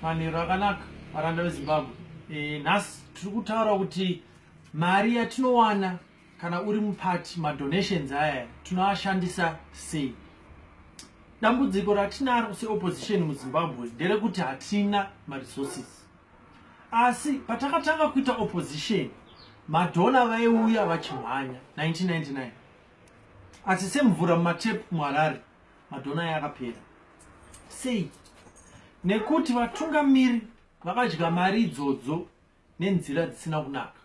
manhero akanaka varanda vezimbabwe e, nhasi tiri kutaura kuti mari yatinowana kana uri mupati madonations aya tinoashandisa sei dambudziko ratinaro seopposition muzimbabwe nderekuti hatina maresources asi patakatanga kuita opposition madhona vaiuya vachimhanya 1999 asi semvura mumatepu muharare madhona aya akapera sei nekuti vatungamiri vakadya mari idzodzo nenzira dzisina kunaka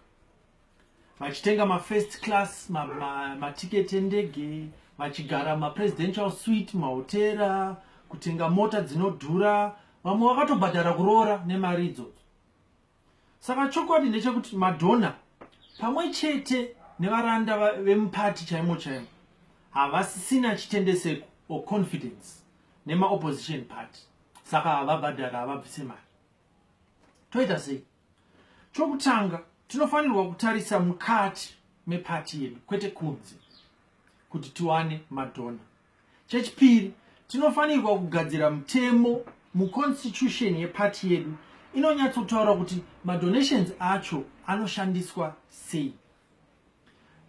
vachitenga mafirst class matiketi ma, ma endege vachigara mapresidential suit mahotera kutenga mota dzinodhura vamwe vakatobhadhara kuroora nemari idzodzo Saka chokwadi ndechekuti madhona pamwe chete nevaranda vemupati chaimo chaimo havasisina chitendeseko or confidence nemaopposition party saka havabhadhari havabvise mari toita sei chokutanga tinofanirwa kutarisa mukati mepati yedu kwete kunze kuti tiwane madhona chechipiri tinofanirwa kugadzira mutemo muconstitution yepati yedu inonyatsotaura kuti madonations acho anoshandiswa sei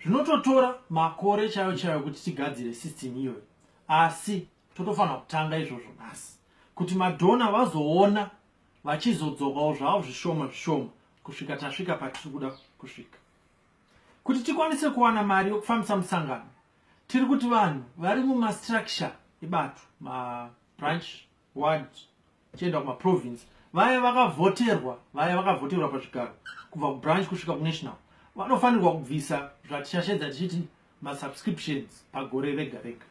zvinototora makore chaiyo chaiyo kuti tigadzire system iyoyo asi totofanira kutanga izvozvo nhasi kuti madhona vazoona vachizodzokawo zvavo zvishoma zvishoma kusvika tasvika patiri kuda kusvika kuti tikwanise kuwana mari yokufambisa musangano tiri kuti vanhu vari mumastructure ebato mabranch ward tichienda kumaprovince vaya vakavhoterwa vaya vakavhoterwa pazvigaro kubva kubranch kusvika kunational vanofanirwa kubvisa zvatishashedza tichiti masubscriptions pagore rega rega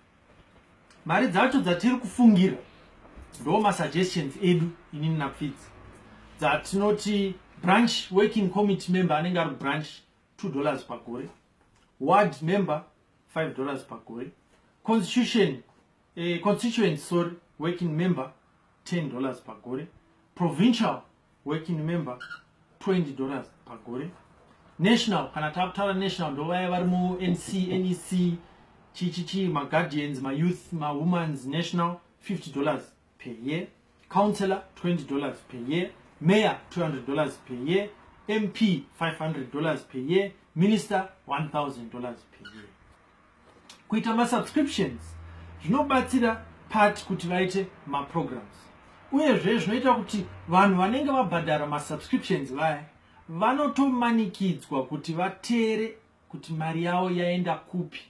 mari dzacho dzatiri kufungira ndo masuggestions edu inini napfidzi dzatinoti branch working committee member anenge ari kubranch two dollars pagore ward member 5 dollars pagore constitution eh, constituent sorry working member 10 dollars pagore provincial working member 20 dollars pagore national kana takutaura national ndovaya vari munc nec chichichi maguardians mayouth mahumans national 50 dollars per year councillor 20 dollars per year mayor 200 dollars per year mp 500 dollars per year minister 1000 dollars per year kuita masubscriptions zvinobatsira part kuti vaite maprograms uyezve zvinoita kuti vanhu vanenge vabhadhara masubscriptions vaya vanotomanikidzwa kuti vateere kuti mari yavo yaenda kupi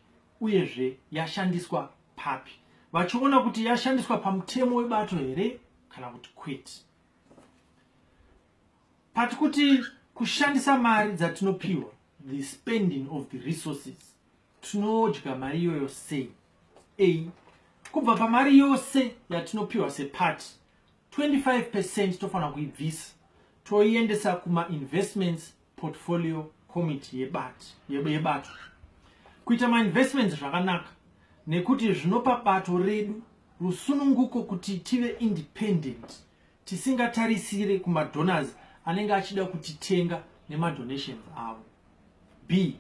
uyezve yashandiswa papi vachiona kuti yashandiswa pamutemo webato here kana kuti kwete pati kuti kushandisa mari dzatinopiwa the spending of the resources tinodya mari iyoyo sei a kubva pamari yose yatinopiwa sepati 25 percent tofanira kuibvisa toiendesa kumainvestments portfolio committee yebato yebato kuita mainvestments zvakanaka nekuti zvinopa bato redu rusununguko kuti tive independent tisingatarisire kumadonors anenge achida kutitenga nemadonations avo b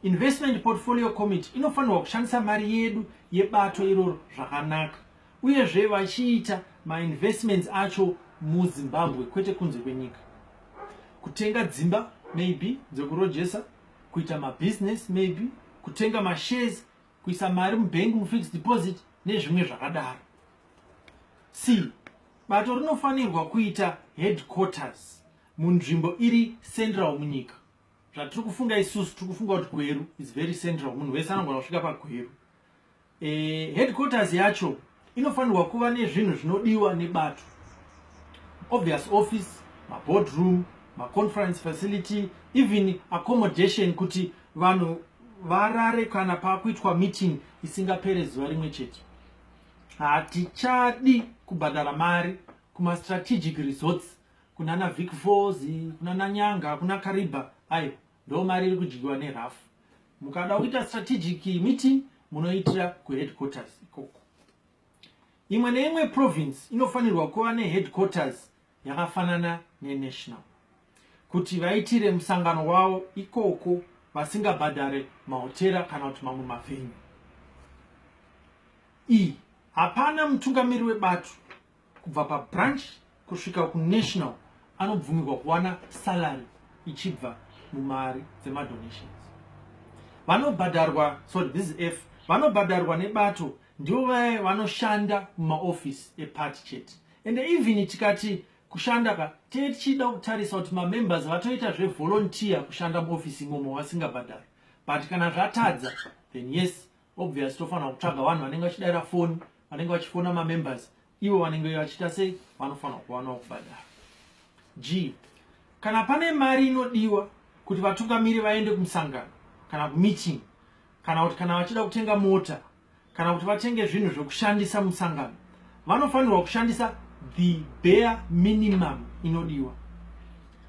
Investment Portfolio Committee inofanirwa kushandisa mari yedu yebato iroro zvakanaka uyezve vachiita mainvestments acho muzimbabwe kwete kunze kwenyika kutenga dzimba maybe dzekurojesa kuita mabusiness maybe kutenga mashares kuisa mari mubhengi mufixed deposit nezvimwe zvakadaro c bato rinofanirwa kuita headquarters munzvimbo iri central munyika zvatiri kufunga isusu tiri kufunga kuti gweru is very central munhu wese anogona kusvika pagweru e, headquarters yacho inofanirwa kuva nezvinhu zvinodiwa nebato obvious office maboardroom maconference facility even accommodation kuti vanhu varare kana pakuitwa meeting isingapere zuva rimwe chete hatichadi kubhadhara mari kumastrategic resorts kuna na Vic Falls kuna na Nyanga kuna Kariba ayo ndo mari iri kudyiwa ne rough mukada kuita strategic meeting munoitira ku headquarters ikoko imwe neimwe province inofanirwa kuva ne headquarters yakafanana ne national kuti vaitire musangano wavo ikoko vasingabhadhare mahotera kana kuti mamwe mavhenyu iyi hapana mutungamiri webato kubva pabranch kusvika kunational anobvumirwa kuwana salary ichibva mumari dzemadonations vanobhadharwa sorry this is f vanobhadharwa nebato ndivo vaye vanoshanda mumaofisi eparty chete ende even tikati kushanda ka tee tichida kutarisa kuti mamembers vatoita zvevolontiya kushanda muofisi imomo vasingabhadhari but kana zvatadza then yes obvious tofanira kutsvaga vanhu vanenge vachidaira foni vanenge vachifona mamembers ivo vanenge vachiita sei vanofanira kuvanawo kubhadhara g kana pane mari inodiwa kuti vatungamiri vaende kumusangano kana kumeeting kana kuti kana vachida kutenga mota kana kuti vatenge zvinhu zvekushandisa musangano vanofanirwa kushandisa the bare minimum inodiwa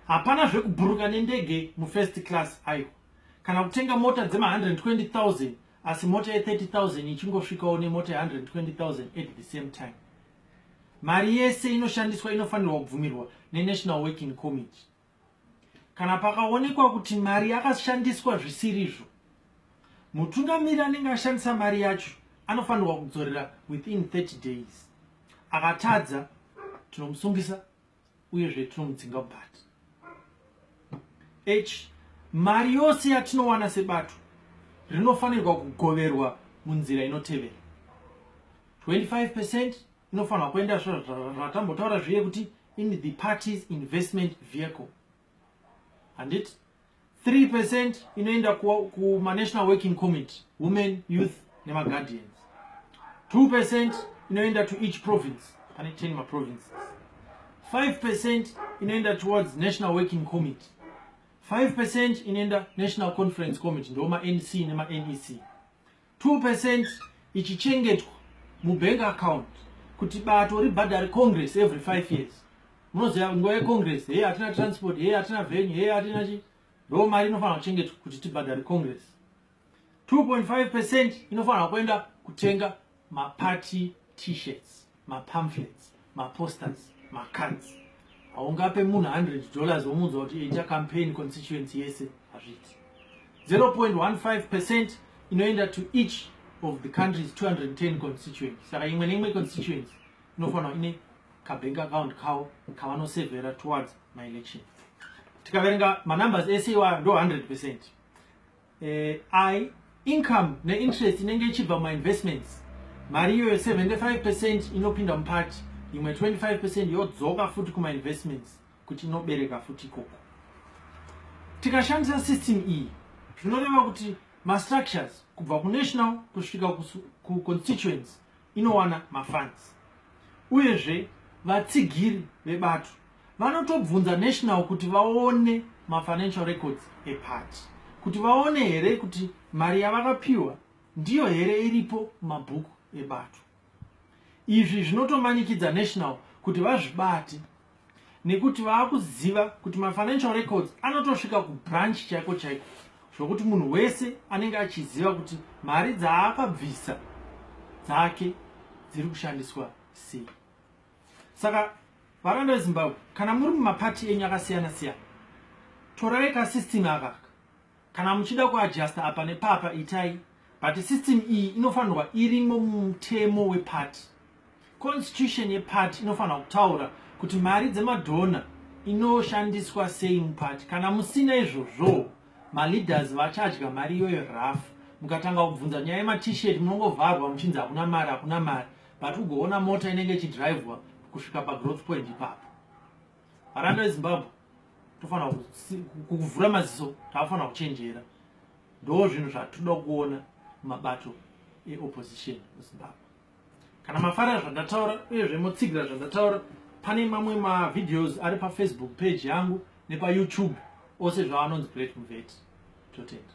hapana zvekuburuka nendege mufirst class aiwa kana kutenga mota dzema 120000 asi mota ye 30000 ichingosvikawo nemota ye 120000 at the same time mari yese inoshandiswa inofanirwa kubvumirwa nenational working committee kana pakaonekwa kuti mari yakashandiswa zvisirizvo mutungamiri anenge ashandisa mari yacho anofanirwa kudzorera within 30 days akatadza tinomusungisa uyezve tinomudzinga but h mari yose yatinowana sebato rinofanirwa kugoverwa munzira inotevera 25 percent inofanirwa kuenda zvatambotaura zviye kuti in the parties investment vehicle handiti 3 percent inoenda kumanational ku working committee women youth nemaguardians 2 percent inoenda to each province pane 10 maprovinces 5 percent inoenda towards national working committee 5 percent inoenda national conference committee ndoo manc nemanec 2% ichichengetwa mubank account kuti bato ribhadhare congress every five years munoziva nguva yecongress heye hatina transport heye hatina venue heye hatina chi ndo mari inofanira kuchengetwa kuti tibhadhare congress 2.5 percent inofanira kuenda kutenga maparty t-shirts mapamphlets maposters macards haungape munhu 100 dollars womuudza kuti ita campaign constituency yese hazviti 0.15 percent inoenda to each of the country's 210 constituency saka imwe neimwe constituency inofanirwa ine kabank account kawo kavanosevhera towards maelection tikaverenga manumbers ese iwayo ndo 100 percent eh, i income neinterest inenge ichibva mumainvestments mari iyoyo 75 percent inopinda mupati imwe 25 percent yodzoka futi kumainvestments kuti inobereka futi ikoko tikashandisa system iyi zvinoreva kuti mastructures kubva kunational kusvika kuconstituents inowana mafans uyezve vatsigiri vebato vanotobvunza national kuti vaone mafinancial records eparty kuti vaone here kuti mari yavakapiwa ndiyo here iripo mumabhuku ebato izvi zvinotomanikidza national kuti vazvibate nekuti vaakuziva kuti mafinancial records anotosvika kubranch chaiko chaiko zvokuti munhu wese anenge achiziva kuti mari dzaakabvisa dzake dziri kushandiswa sei saka varanda vezimbabwe kana muri mumapati enyu akasiyana siyana torai kasystem akaka kana muchida kuadjusta apa nepapa itai but system iyi inofanirwa irimo mumutemo wepati constitution yepati inofanirwa kutaura kuti mari dzemadhona inoshandiswa sei mupati kana musina izvozvoo maleaders vachadya mari iyoyo raf mukatanga kubvunza nyaya yematshirt munongovharwa muchinzi hakuna mari hakuna mari but ugoona mota inenge ichidrivwa kusvika pagrowth point ipapo varanda vezimbabwe tofanira kuvhura maziso taafanira kuchenjera ndo zvinhu zvatoda kuona mabato eopposition muzimbabwe kana mafarira zvandataura uyezve motsigira zvandataura pane mamwe mavideos ari pafacebook page yangu nepayoutube ose zvaanonzi great muveti totenda